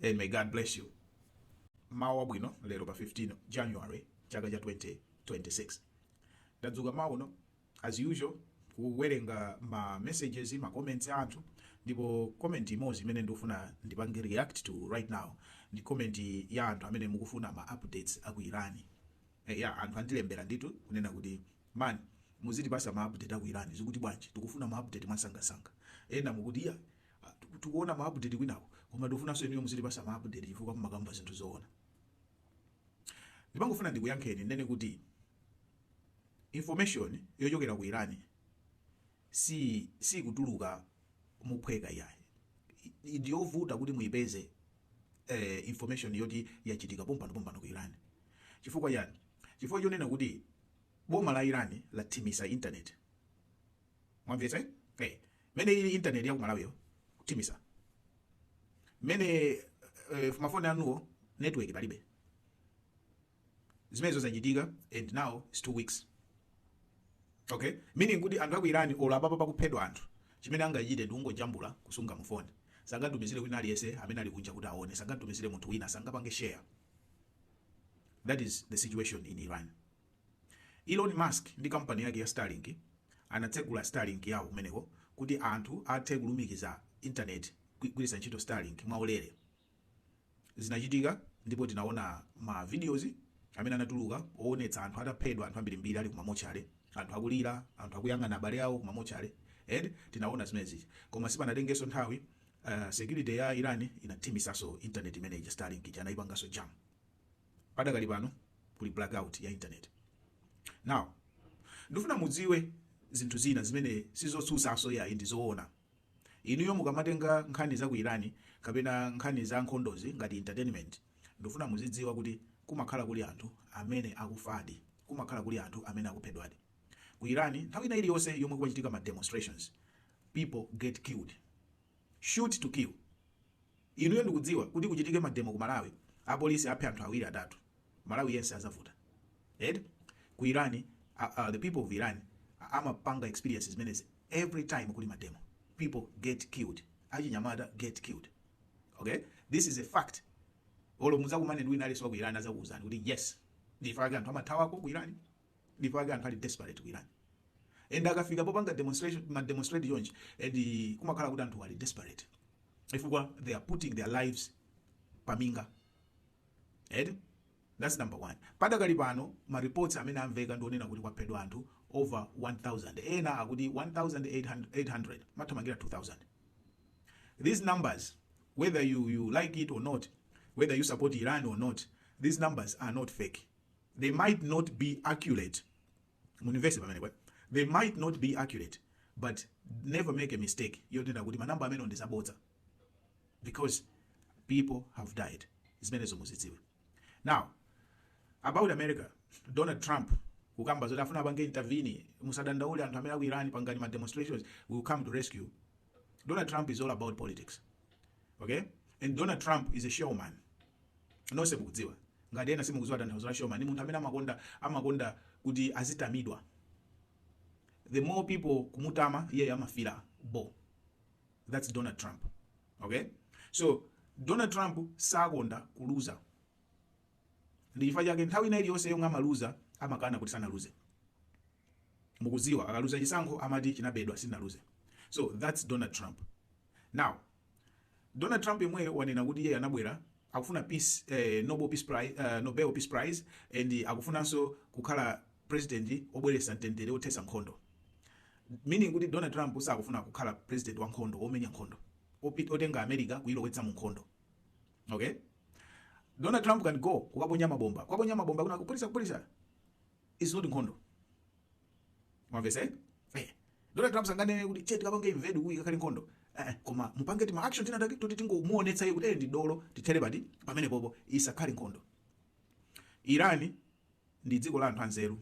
Hey, may God bless you. Mawu abwino lero pa 15 January chaka cha 2026. Ndadzuka mmawa uno as usual kuwerenga ma messages ma comments a anthu ndipo comment imodzi imene ndikufuna ndipange react to right now ndi comment ya anthu amene mukufuna ma updates a ku Iran. Eh, yah anthu andilembera nditu kunena kuti man muzitipasa ma update a ku Iran zikuti bwanji tikufuna ma update mwasangasanga. Ena mukuti ya Ah, tiku- tikuona ma update kwinako koma tikufunanso inuyo muzitipasa ma update chifukwa mumakamba zinthu zoona ndimangofuna ndikuyankheni ndinene kuti information yochokera ku irani si sikutuluka mophweka iyayi I- ndiyovuta kuti muyipeze eh, information yoti yachitika pompano pompano ku irani chifukwa yani chifukwa chonena kuti boma la irani lathimitsa internet mwamvetsa eti? eh. mene ili internet ya kumalawi yo kuthimitsa mene eh, mafoni anuwo network palibe zimenezo zachitika and now it's two weeks okay meaning kuti anthu aku irani olo apapa akuphedwa anthu chimene angachite ndikungojambula kusunga mufoni sangatumizire wina aliyense amene ali kunja kuti aone sangatumizire munthu wina sangapange share that is the situation in iran Elon Musk ndi kampani yake ya Starlink anatsegula Starlink yawo kumeneko kuti anthu athe kulumikiza internet kugwiritsa ntchito Starlink mwaulere. Zinachitika ndipo tinaona ma videos amene anatuluka owonetsa anthu ataphedwa, anthu ambirimbiri ali ku ma mortuary, anthu akulira, anthu akuyang'ana abale awo ku ma mortuary eti tinaona zimene zija. Koma sipanatengenso nthawi security ya Iran inathimitsanso internet imene ija Starlink ija anaipanganso jam. Padakali pano kuli blackout ya internet. Now ndifuna mudziwe zinthu zina zimene sizotsutsanso iyayi ndi zoona. Inuyo mukamatenga nkhani za ku Iran kapena nkhani za nkhondozi ngati entertainment, ndifuna muzidziwa kuti kumakhala kuli anthu amene akufadi, kumakhala kuli anthu amene akuphedwadi. Ku Iran nthawi ina iliyonse yomwe kwachitika ma demonstrations, people get killed. shoot to kill inuyo ndikudziwa kuti kuchitike mademo ku malawi apolisi aphe anthu awiri atatu malawi yense azavuta eti ku iran uh, uh, the people of iran amapanga experience zimenezi every time kuli mademo people get killed achinyamata get killed okay this is a fact olo muzakumane ndi wina aliyense wa ku iran azakuuzani kuti yes nchifukwa chake anthu amathawako ku iran dipo ake anthu ali desperate ku Iran and akafika popanga demonstration, kuma demonstrate chonchi, ndiye kumakhala kuti anthu ali desperate chifukwa they are putting their lives paminga eti that's number one padakali pano ma reports amene amveka ndionena kuti kwaphedwa anthu over 1000 ena akuti 1800 kuthamangira 2000 these numbers whether you, you like it or not whether you support iran or not these numbers are not fake they might not be accurate mundimvetse pamenepo eh? they might not be accurate but never make a mistake yonena kuti manamba amenewo ndi abodza because people have died zimenezo muzidziwe now about america donald trump kukamba zoti afuna apange intervene musadandaule anthu amene aku Iran pangani ma demonstrations we'll come to rescue donald trump is all about politics okay and donald trump is a showman nonse mukudziwa ngati ena simukudziwa tanthauzo la showman munthu amene amakonda amakonda kuti azitamidwa the more people akumutama iyeyo amafila bo that's donald trump okay so donald trump sakonda kuluza ndi chifukwa chake nthawi ina iliyonse yomwe amaluza amakana kuti sanaluze mukudziwa akaluza chisankho amati chinabedwa sinaluze so that's donald trump now Donald Trump yomweyo wanena kuti iye anabwera akufuna peace, eh, Nobel Peace Prize, uh, Nobel Peace Prize and akufunanso kukhala president obweretsa mtendere othetsa nkhondo meaning kuti Donald Trump sakufuna kukhala president wa nkhondo omenya nkhondo opita kotenga America kuilowetsa mu nkhondo okay Donald Trump can go kukaponya mabomba kukaponya mabomba kuna kuphulitsa kuphulitsa is not nkhondo mwamvetsa eh? eh. donald trump sanganene kuti che tikapange invade kuti kakhale nkhondo eh, eh, koma angopanga tima action tina take toti tingomuonetsa iye kuti eh, ndi dolo tithere pati pamenepopo isakhale nkhondo Iran ndi dziko la anthu anzeru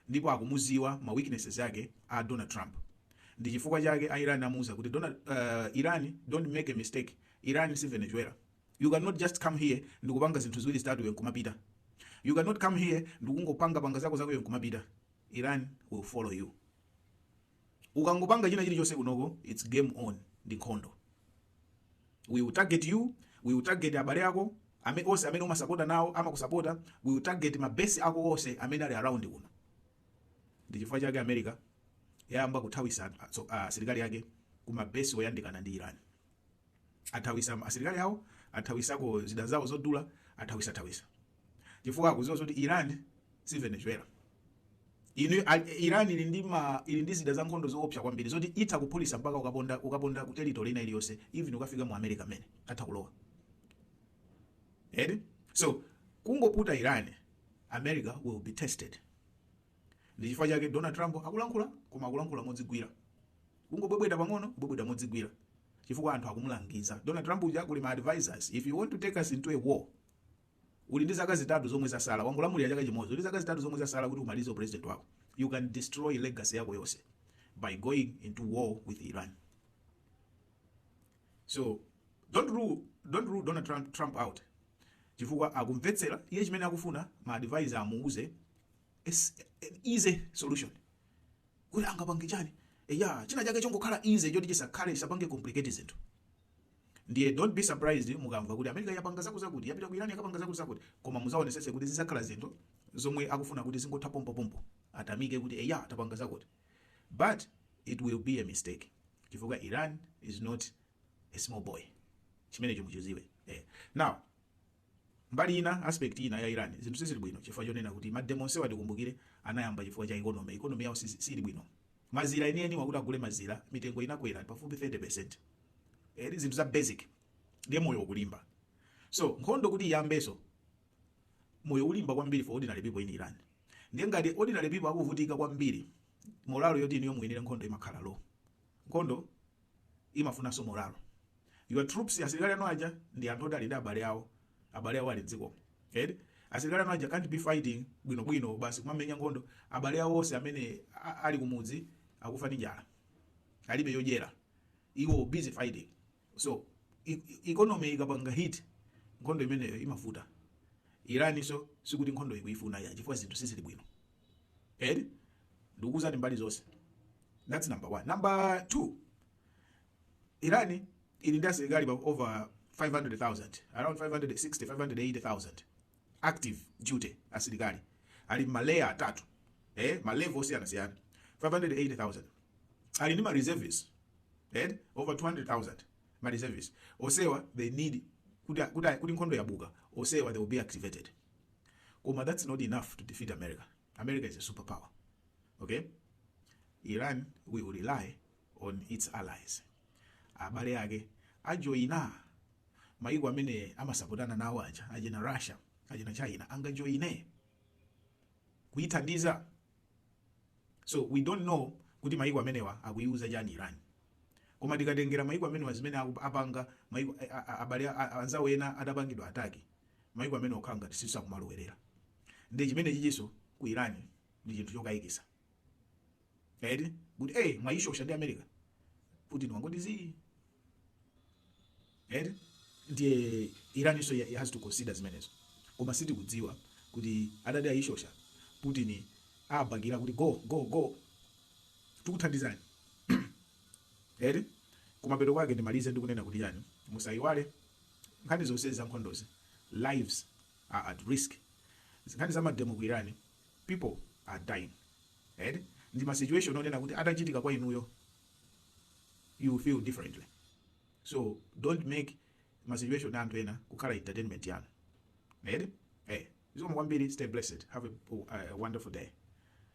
ndipo akumudziwa ma weaknesses ake a donald trump ndi chifukwa chake a Iran amuuza kuti donald uh, Iran don't make a mistake Iran si venezuela You can not just come here ndikupanga zinthu ziwiri zitatu iwe nkumapita. You can not come here ndikungopanga panga zako zako iwe nkumapita. Iran will follow you. Ukangopanga china chilichonse kunoko, it's game on ndi nkhondo. We will target you, we will target abale ako, ame onse amene umasapotana nawo amakusapota, we will target mabesi ako onse amene ali around kuno. Ndi chifukwa chake America yayamba kuthawisa asilikali ake ku mabesi oyandikana ndi Iran. athawisa asilikali awo athawisako zida zawo zodula athawisathawisa chifukwa akudziwa zoti iran si venezuela inu iran ili ndi ma ili ndi zida za nkhondo zoopsa kwambiri zoti itha kuphulisa mpaka ukaponda ukaponda ku territory ina iliyonse even ukafika mu america mene atha kulowa eti so kungoputa iran america will be tested Ndi chifukwa chake Donald Trump akulankhula, koma akulankhula modzigwira. Kungobwebweta pang'ono, kubwebweta modzigwira. Chifukwa anthu akumulangiza. Donald Trump uja kuli ma advisors, if you want to take us into a war, uli ndi zaka zitatu zomwe zatsala, wangolamulira chaka chimodzi, uli zaka zitatu zomwe zatsala kuti umalize presidency yako. You can destroy legacy yako yonse by going into war with Iran. So, don't rule, don't rule Donald Trump, Trump out. Chifukwa akumvetsera iye chimene akufuna ma advisor amuuze It's an easy solution kuti angapange chani eya china chake chongokhala easy choti chisakhale chisapange complicate zinthu ndiye don't be surprised mukamva kuti america yapanga zakutizakuti yapita ku iran yakapanga zakutizakuti koma mudzaonetsetse kuti zidzakhala zinthu zomwe akufuna kuti zingotha pompopompo atamike kuti eya tapanga zakuti but it will be a mistake chifukwa iran is not a small boy chimenecho muchidziwe eh. now Mbali ina, aspect ina ya Iran, zinthu sizili bwino chifukwa chonena kuti ma demo onsewa tikumbukire anayamba chifukwa cha economy, economy yawo siili bwino. Mazira enieniwa kuti agule mazira mitengo inakwera pafupifupi 30%. Eti zinthu za basic ndiye moyo ukulimba. So nkhondo kuti iyambenso, moyo ulimba kwambiri for ordinary people in Iran. Ndiye ngati ordinary people akuvutika kwambiri, morale yoti inuyo muwinire nkhondo imakhala low. Nkhondo imafunanso morale. Your troops, asilikali anu aja, ndi anthu oti ali ndi abale awo, abale awo ali m'dzikomo. Eti? Asilikali anu aja can't be fighting bwinobwino, basi kumamenya nkhondo, abale awo onse amene ali kumudzi akufa ndi njala, alibe zodyera, iwo busy fighting. So, e, economy ikapanga hit, nkhondo imeneyo imavuta. Iran-nso sikuti nkhondo ikuyifuna ayi chifukwa zinthu sizili bwino. eti ndikuuzani mbali zonse that's number one number two iran ili ndi asilikali pa over 500000 around 560 580000 active duty asilikali ali maleya atatu eh, malevel osiyanasiyana 580000 ali ndi mareservists eh, over 200000 mareservists onsewa they need kuti kuti- kuti nkhondo yabuka onsewa they will be activated koma thats not enough to defeat america, america is a super power ok iran will rely on its allies abale ake ajoina maiko amene amasapotana nawo achina russia achina china angajoine kuithandiza so we don't know kuti maiko amenewa akuiuza chani iran koma tikatengera maiko amenewa zimene aku- apanga maiko a- a- abale a- a- anzawo ena atapangidwa attack Maiko amene amakhala ngati sakumalowerera nde chimenechinso ku Iran ndi chinthu chokaikisa eti kuti ee mwaishosha ndi America Putin wangoti zii eti ndiye Iran so ya has to consider zimenezo koma sitikudziwa kuti atati aishosha Putin abakira kuti go go go tikuthandizani eti kumapeto kwake ndimalize ndikunena kuti chani musaiwale Nkhani zonsezi za nkhondozi lives are at risk, nkhani za mademo ku Iran people are dying eti ndi ma situation onena kuti atachitika kwa inuyo you will feel differently so don't make ma situation a anthu ena kukhala entertainment yanu eti eh zikomo kwambiri stay blessed have a wonderful day.